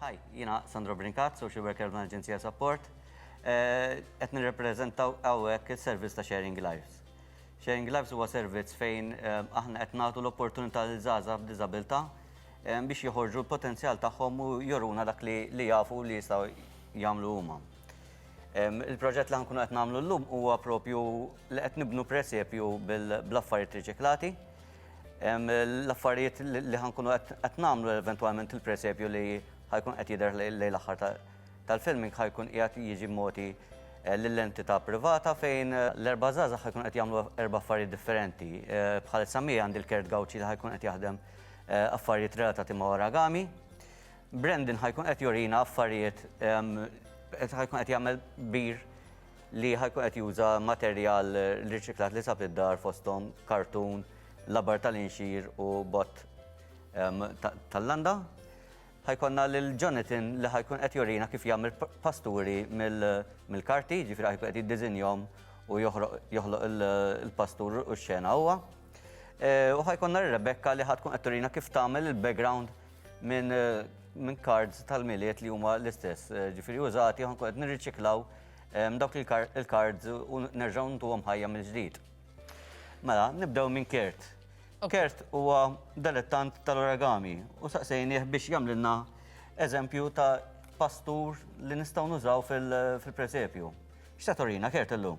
Hi, jiena Sandro Brincat, Social Worker minn Aġenzija Support. Eh, qed nirrepreżentaw hawnhekk is-servizz ta' Sharing Lives. Sharing Lives huwa servizz fejn eh, aħna qed nagħtu l-opportunità lil żgħażagħ b'diżabilità eh, biex joħorġu l-potenzjal tagħhom u joruna dak li jafu li jistgħu jagħmlu huma. Il-proġett li nkunu qed nagħmlu llum huwa propju li qed nibnu presepju bil-affarijiet riċiklati L-affarijiet li ħa nkunu qed nagħmlu eventwalment il-presepju li ħa jkun qed jidher lejn l-aħħar tal-filming ħa jkun qiegħed jiġi mogħti eh, lill-entità privata fejn eh, l-erba' żgħażagħ ħa jkun qed jagħmlu erba' affarijiet differenti. Eh, bħalissa mija għandi l-Kert Gawċi li ħa jkun qed jaħdem affarijiet relatati ma' oragami. Brendan ħa jkun qed jurina affarijiet ħa jkun qed jagħmel bir li ħa jkun qed juża materjal riċiklat li sab id-dar fosthom kartun, labar tal-inxir u bott ehm, tal-landa. Ħajkonna lil Jonathan li ħajkun qed jorina kif jagħmel pasturi mill-karti, ġifieri ħajkun qed jiddiżinjhom u joħloq il-pastur u x-xena huwa. Eh, u ħajkonna Rebecca li ħatkun qed turina kif tagħmel il-background minn min cards tal-miliet li huma l-istess, eh, ġifiri użati, għan kod nirriċiklaw eh, dawk il-cards u nerġaw ntu għom ħajja mill-ġdid. Mela, nibdew minn Kert. Kert huwa dilettant tal-origami u saqsejni biex jamlinna eżempju ta' pastur li nistaw nużaw fil-presepju. X'tatorina, Kert illum?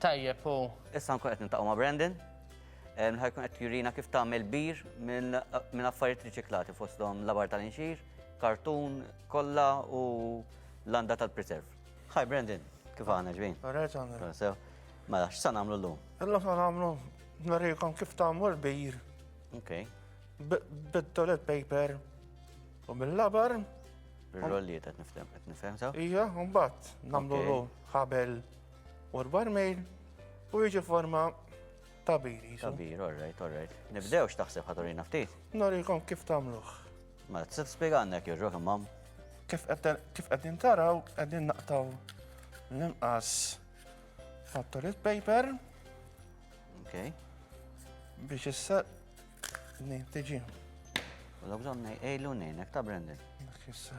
Tajjeb u. Issa nkun qed niltaqgħu ma' Brandon li ħa jkun qed jurina kif tagħmel bir minn affarijiet riċiklati fosthom labar tal-inxir, kartun, kollha u landa tal-preserv. Hi Brandon, kif aħna ġbin? Alright għandna. Mela, x'sa nagħmlu llum? Illum sa nagħmlu nurikom kif tagħmlu l-bir. Okay. Bit-toilet paper u mill-labar. Bir-rolliet qed nifhem, qed nifhem sew? Ija, mbagħad nagħmlu ħabel. U l-barmail u jiġi forma ta' bir. Ta' bir, all right, all right. Nibdew x'taħseb ħaturina ftit? Norikom kif tagħmluh. Ma t spiega għandek jirġok imam. Kif qegħdin taraw qegħdin naqtaw l-imqas ta' toilet paper. Okay. Biex issa tiġi. U l-għabżon nejlu nejnek ta' Brendan. Dak issa.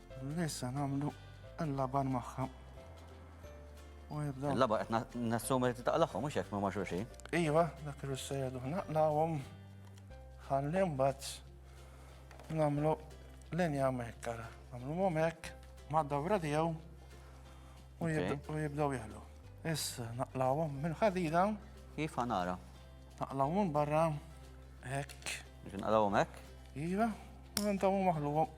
Lissa namlu l-laban maħħa. Il-laba qed nassum li taqlaħħom mhux hekk ma' xulxin. Iva, dak li se jgħidu naqlawhom ħalli mbagħad nagħmlu linja hemmhekk ara. Nagħmluhom hekk mad-dawra tiegħu u jibdew jieħlu. Issa naqlawhom mill-ħadida. Kif ħanara? Naqlawhom barra hekk. Naqlawhom hekk? Iva, u ntawu maħluhom.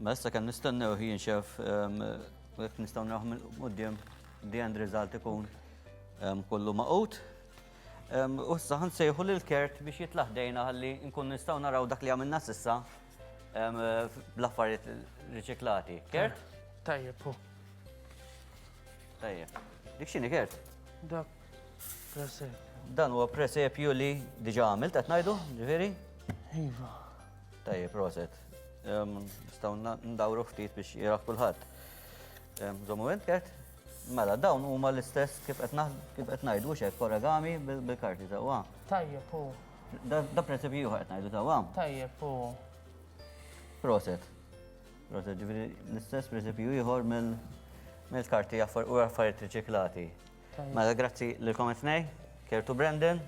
Ma issa kan nistennew hi nxef ehm, jekk nistgħu naraw mill-qudiem the end result ikun ehm, kollu maqut. U issa ħan sejħu lil Kurt biex jitla' ħdejna ħalli nkun nistgħu naraw dak li għamilna s'issa bl-affarijiet riċiklati. Kurt? Tajjeb, hu. Tajjeb. Dik x'inhi Kurt? Dak presepju. Dan huwa presepju li diġà għamilt qed ngħidu, ġifieri? Iva. Tajjeb, proset. Nistgħu ndawru ftit biex jirah kulħadd. Żommu int, Kurt? Mela dawn huma l-istess kif qed kif qed ngħidu hux hekk origami bil-karti sewwa. Tajjeb hu. Da prinċipju ieħor qed ngħidu sewwa. Tajjeb hu. Proset. Proset ġifieri l-istess prinċipju ieħor mill-karti u affarijiet riċiklati. Mela grazzi lilkom it-tnej, Kertu Brendan.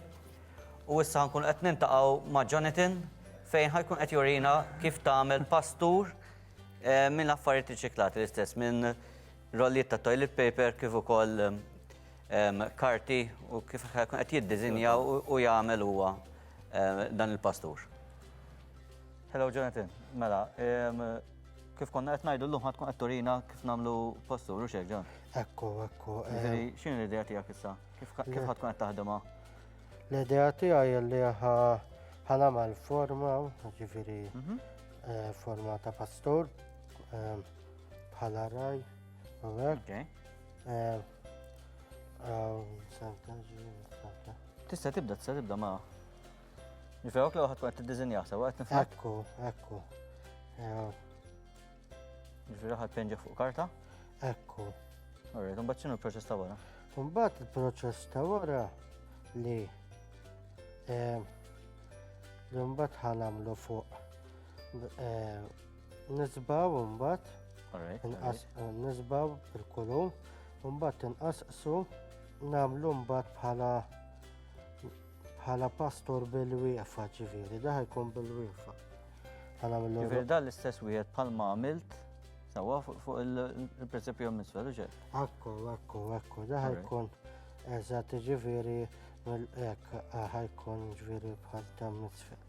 U issa nkun qed nintaqgħu ma' Jonathan fejn ħajkun qed jurina kif tagħmel pastur eh, minn affarijiet riċiklati l-istess minn rollijiet ta' toilet paper kif ukoll karti u kif ħajkun qed jiddiżinja u jagħmel huwa dan il-pastur. Hello Jonathan, mela, kif konna qed ngħidu llum ħadd tkun qed turina kif nagħmlu pastur u xejn ġan. Ekku, ekku. Ġifieri x'inhi l-idea tiegħek issa? Kif ħadd tkun qed taħdimha? L-idea tiegħi li ħanagħmel forma, ġifieri mhm. eh, forma ta' pastur. Eh, Bħala raj, għek. Eh, tista tibda, tista tibda ma. Nifewk li għat għat t-dizinja, sa għat nifewk. Ekku, ekku. Ġifiri għat penġa fuq karta? Ekku. Għarri, un baċċinu l-proċess ta' wara? Un bat il-proċess ta' wara li eh, l-umbat ħanamlu fuq eh, Nisbaw mbagħad. Inqas nisbaw il-kulum, mbagħad inqasqsu nagħmlu mbagħad bħala bħala pastor bil-wieqfa ġifieri, daħ jkun bil-wieqfa. Ġifieri dan l-istess wieħed bħalma għamilt sawa fuq il-presepju misfel, uġe? Akku, akku, akku, daħ jkun eżatt ġifieri mill-ek ħajkun ġifieri bħal tam misfel.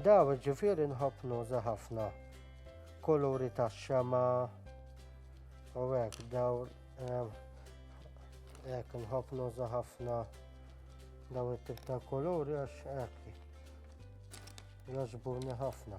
Daw ġifiri nħobb nuża ħafna kuluri ta' xema u hekk daw hekk nħobb nuża ħafna daw it-tip ta' kuluri għax hekk jogħġbuni ħafna.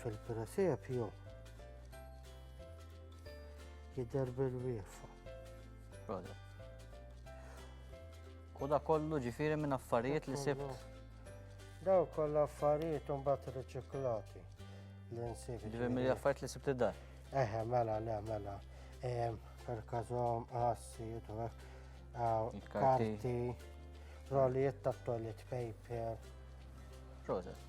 Fil-presepju jidher bil-wiefa. Roda. U da kollu ġifiri minn affarijiet li sibt. Daw kollu affarijiet un bat riċiklati li nsib. Ġifiri minn affarijiet li sibt id-dar. Eħe, mela, le, mela. Per kazom, għassi, karti, rolijiet ta' toilet paper. Proset.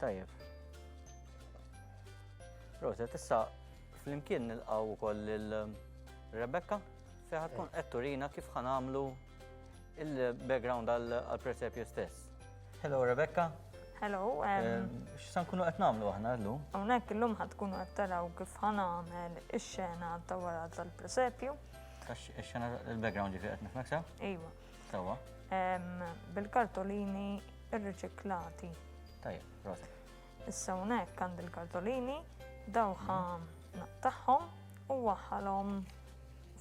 Tajjeb. Rosa, tissa flimkien nilqaw ukoll lil um, Rebecca fejn tkun eh. qed turina kif ħanamlu il-background għal-presepju stess. Hello Rebecca. Hello. Um, eh, X'san kunu qed nagħmlu aħna llum? Hawnhekk illum ħad tkunu qed taraw kif ħanagħmel ix-xena ta' wara tal-presepju. Ix-xena il-background ġifi qed nifhmeksa? Iva. Sewa. Bil-kartolini rriċiklati. Tajjeb, prosa. Issa hawnhekk għandi l-kartolini, dawħa naqtaħħom u waħħalhom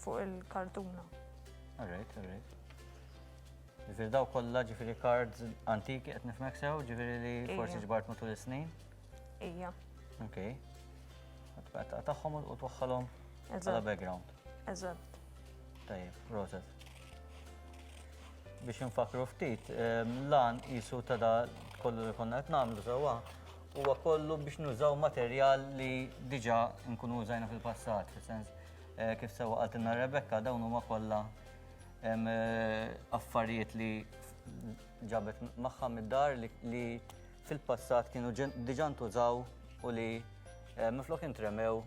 fuq il-kartuna. Alright, alright. Ġifiri daw kollha ġifiri cards antiki qed nifmek sew, ġifiri li forsi ġbart matul is-snin. Ija. Ok. Taqtaħħom u twaħħalhom għala background. Eżatt. Tajjeb, proċess. biex infakru ftit, lan jisu ta' da kollu li konna qed nagħmlu sewwa huwa kollu biex nużaw materjal li diġà nkunu użajna fil-passat, fis-sens eh, kif sewwa qaltilna Rebecca dawn huma kollha eh, affarijiet li ġabet magħha mid-dar li fil-passat kienu diġà ntużaw u li eh, minflok intremew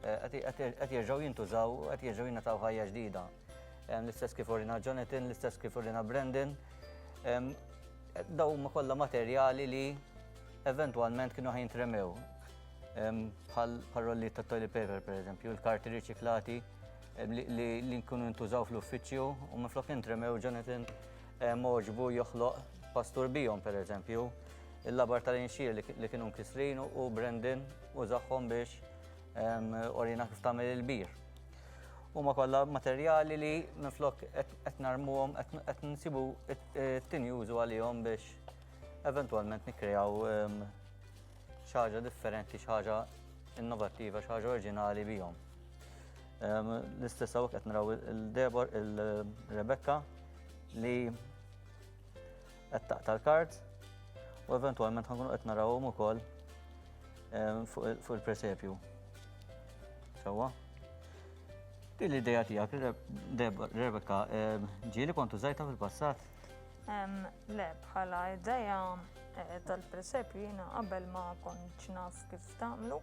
Qed jerġgħu jintużaw, qed jerġgħu jingħataw ħajja ġdida. L-istess kif urina Jonathan, l-istess kif urina Brendan. Daw ma kollha materjali li eventwalment kienu ħajn tremew. Bħal parolli ta' toilet paper, per eżempju, il-karti riċiklati li nkunu ntużaw fl-uffiċċju u minn flok intremew Jonathan moġbu joħloq pastur bijom, per eżempju, il-labar tal-inxier li kienu nkisrin u Brendan użahom biex orina kif tagħmel il-bir. Huma kollha materjali li minflok qed narmuhom qed nsibu t-tieni użu għalihom biex eventwalment nikkrejaw xi ħaġa differenti, xi ħaġa innovattiva, xi ħaġa oriġinali bihom. L-istess hawn qed naraw il-Debor, il-Rebecca li qed taqta' l-kard u eventwalment ħankunu qed narawhom ukoll ehm, fuq il-presepju. Sewwa? Din l-ideja tiegħek, Rebecca, ehm, ġieli kontu żajta fil-passat? Ehm, le, bħala ideja eh, tal-presepju jiena qabel ma kontx naf kif tagħmlu.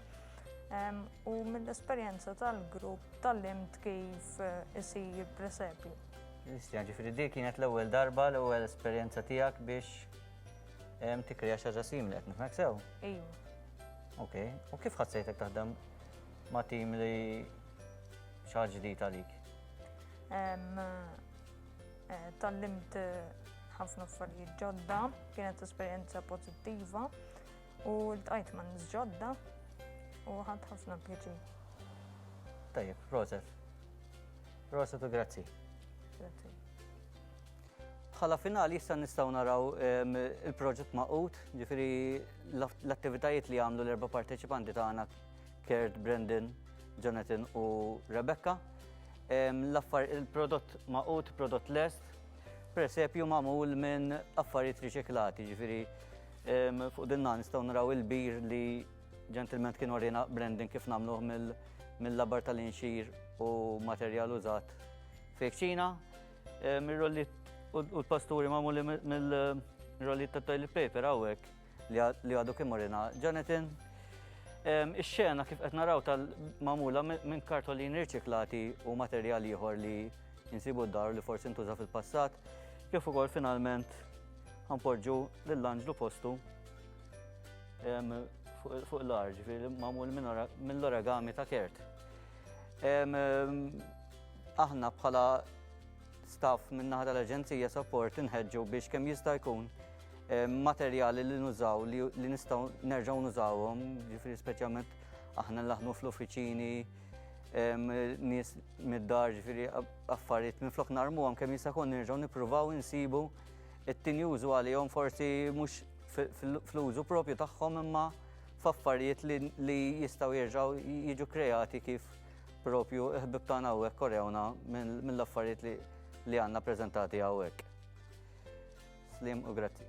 U mill-esperjenza tal-grupp tal-limt kif eh, isir presepju. Nistja, ġifiri di kienet l-ewwel darba, l-ewwel esperjenza tiegħek biex tikreja xi ħaġa simili qed nifhmek sew? Ejju. Ok, u kif ħassejtek taħdem ma' tim li xi ħaġa ġdid għalik? Eh, tallimt eh, ħafna affarijiet ġodda, kienet esperjenza pozittiva u l-tqajt ma' nis ġodda u ħadd ħafna pjaċi. Tajjeb, proset. Proset u grazzi. Grazzi. Bħala finali issa nistgħu naraw ehm, il-proġett maqut, ġifiri l-attivitajiet li għamlu l-erba parteċipanti tagħna Kurt, Brendan, Jonathan u Rebecca. Ehm, l-affar il-prodott maqut, prodott lest, presepju magħmul minn affarijiet riċiklati, ġifiri ehm, fuq dinna nistgħu naraw il-bir li Ġentilment kien orina branding kif nagħmluh mill-labar tal-inxir u materjal użat fi kċina, eh, mir-rollit u l-pasturi magħmuli mill-rollit ta' toilet paper hawnhekk li għadu kien orina. Jonathan, ehm, ix-xena kif qed naraw tal-magħmula minn kartolin riċiklati u materjal ieħor li jinsibu d-dar li forsi ntuża fil-passat, kif ukoll finalment ħanpoġġu lill-anġlu postu Fuq l-ar, ġifiri, mamul mill-origami ta' kert. Aħna bħala staff minnaħa tal-Aġenzija Support inħedġu biex kemm jista' jkun materjali li nużaw li nistgħu nerġgħu nużawhom, ġifiri speċjalment aħna laħnu fl-uffiċini, nies mid-dar, ġifiri affarijiet minn flok narmu għam kemm jista' jkun nerġgħu nippruvaw insibu it-tinjużu għalihom forsi mhux fl-użu propju tagħhom imma f'affarijiet li jistgħu jerġgħu jiġu kreati kif propju ħbib tagħna hawnhekk korewna mill-affarijiet li għandna preżentati hawnhekk. Slim u grazzi.